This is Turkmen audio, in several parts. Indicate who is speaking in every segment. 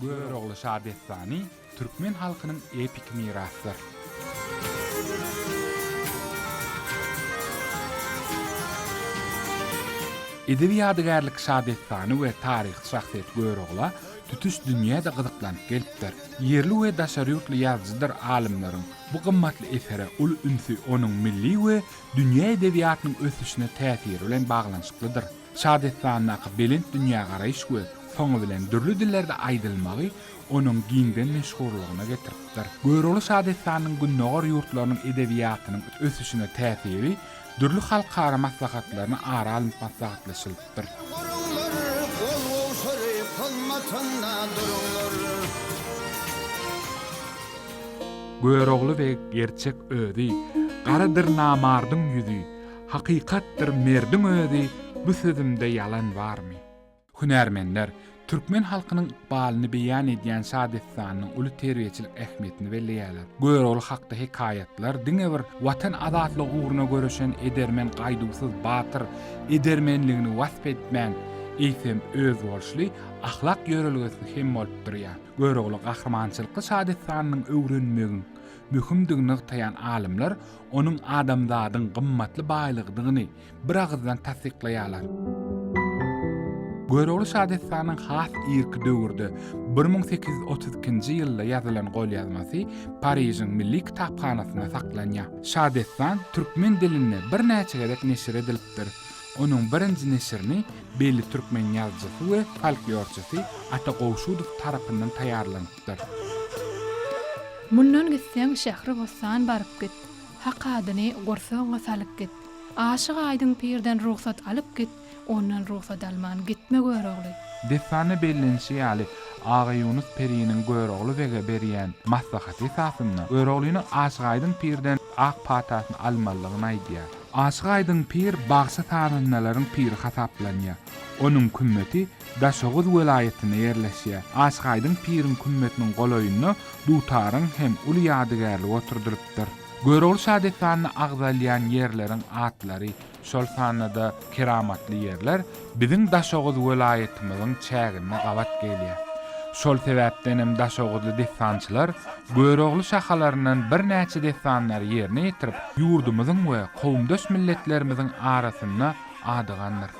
Speaker 1: Görogly şadessany türkmen halkynyň epik mirasdyr. Edebi ýadygärlik şadessany we taryhy şahsyýet Görogla tutuş dünýä-de gyzyklanyp gelipdir. Ýerli we daşary ýurtly ýazyjydyr alymlaryň bu gymmatly esere uly ünsi onuň milli we dünýä edebiýatynyň ösüşine täsiri bilen baglanyşyklydyr. Şadessandaky belent dünýägaraýyş we soňy bilen dürli dillerde aýdylmagy onuň giňden meşhurlygyna getiripdir. Görogly şadessanynyň Gündogar ýurtlarynyň edebiýatynyň ösüşine täsiri dürli halkara maslahatlaryna ara alnyp maslahatlaşylypdyr. Goruňlar, gol-goşary hyzmatynda duruňlar. Görogly beg gerçek özi, Garadyr namardyň ýüzi. Hakykatdyr merdiň özi bu sözümde ýalan barmy? Hünärmenler, türkmen halkynyň ykbalyny beýan edýän şadessanynyň uly terbiýeçilik ähmiýetini belleýärler. Görogly hakda hekaýatlar diňe bir Watan azatlygy ugruna göreşen edermen gaýduwsyz batyr edermenligini wasp etmän, eýsem, özboluşly ahlak ýörelgesi hem bolup durýar. Görogly gahrymançylykly şadessanynyň öwrenmegiň möhümdigini nygtaýan alymlar onuň adamzadyň gymmatly baýlygydygyny biragyzdan tassyklaýarlar. Görogly şadessanyň has irki döwürde bir müň sekiz ýüz otuz ikinji ýylda ýazylan golýazmasy Parižiň milli kitaphanasynda saklanýar. Şadessan türkmen dilinde birnäçe gezek neşir edilipdir. Onuň birinji neşirini belli türkmen ýazyjysy we folklorçysy Ata Gowşudow tarapyndan taýýarlanypdyr. ýazypdyr.
Speaker 2: Mundan gitseň Şähribossan baryp git, Hak adyny gursagyňa salyp git. Aşyk Aýdyň pirden rugsat alyp git, Ondan rugsat alman gitme Görogly. Dessanda bellenişi ýaly, Aga Ýunus periniň Görogly bege berýän maslahaty esasynda, Göroglynyň Aşyk Aýdyň pirden ak patasyny almalydygyny aýdýar. Aşyk Aýdyň pir bagşy-sazandalaryň piri hasaplanýar. Onuň kümmeti Daşoguz welaýatynda ýerleşýär. Aşgaýdyň piriň kümmetiniň golaýynda dutaryň hem uly ýadygärligi oturdylypdyr. Görogly şadessanyna agzalýan ýerleriň atlary, şol sanda-da keramatly ýerler biziň Daşoguz welaýatymyzyň çäginde gabat gelýär. Şol sebäpden hem daşoguzly dessançylar Görogly şahalaryndan birnäçe dessanlary ýerine ýetirip, ýurdumyzyň we kowumdaş milletlerimiziň arasynda adygandyr.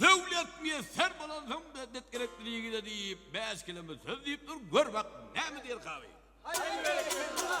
Speaker 3: Döwlet miýesser bolansoň-da dek gerekliligine diýip bäş keleme söz diýip dur, gör bak näme diýer kazy. Haý berekella!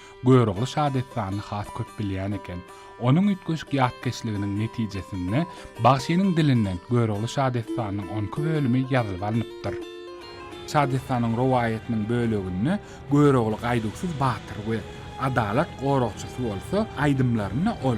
Speaker 1: Görogly şadessanyny has köp bilýän eken. Onuň üýtgeşik ýatkeşliginiň netijesinde bagşynyň dilinden Görogly şadessanynyň on iki bölümi ýazylyp alnypdyr. Şadessanyň rowaýatynyň böleginde Görogly gaýduwsyz batyr we adalat goragçysy bolsa, aýdymlarynda ol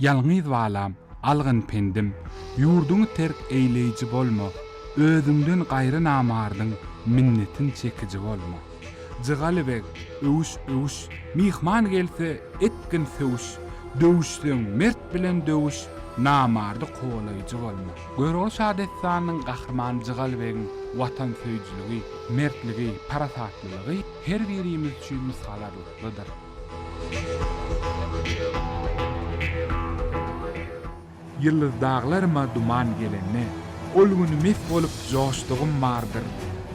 Speaker 1: Ýalňyz balam, algan pendim, Ýurduňy terk eýleýji bolma, Özüňden gaýry namardyň Minnetin çekiji bolma. Jygaly beg, öwüş, öwüş, Myhman gelse, etgin söwüş, Döwüşseň, mert bilen döwüş, Namardy kowalaýjy bolma. Görogly şadessanynyň gahrymany Jygaly begiň watansöýüjiligi, mertligi, parasatlylygy her birimiz üçin nusgalarlyklydyr. Ýyldyz daglaryma duman gelende, Ol güni mes bolup joşdugym bardyr.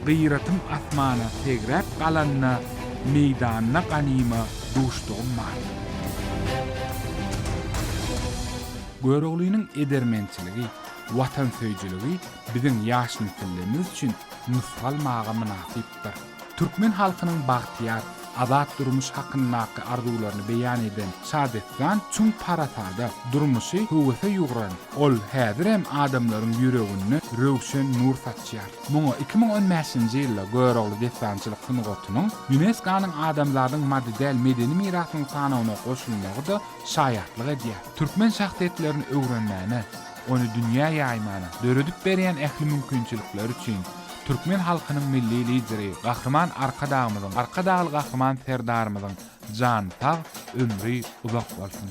Speaker 1: Gyratym asmana segräp galanda, Meýdanda ganyma duşdugym bardyr. Göroglynyň edermençiligi, watansöýüjiligi biziň ýaş nesillimiz üçin nusgalmaga mynasypdyr. Türkmen halkynyň bagtyýar, azat durmuş hakyndaky arzuwlaryny beýan eden şadessan çuň parasada, durmuşy höwese ýugran. Ol häzirem adamlaryň ýüreginde röwşen nur saçýar. Muňa iki müň on bäşinji ýylda Görogly dessançylyk sungatynyň ÝUNESKO-nyň Adamzadyň maddy däl medeni mirasynyň sanawyna goşulmagy-da şaýatlyk edýär. Türkmen şahsyýetlerini öwrenmäne, ony dünýä ýaýmana döredip berýän ähli mümkinçilikleri üçin türkmen halkynyň Milli Lideri Gahryman Arkadagymyzyň, Arkadagly Gahryman Serdarymyzyň jany sag, ömri uzak bolsun!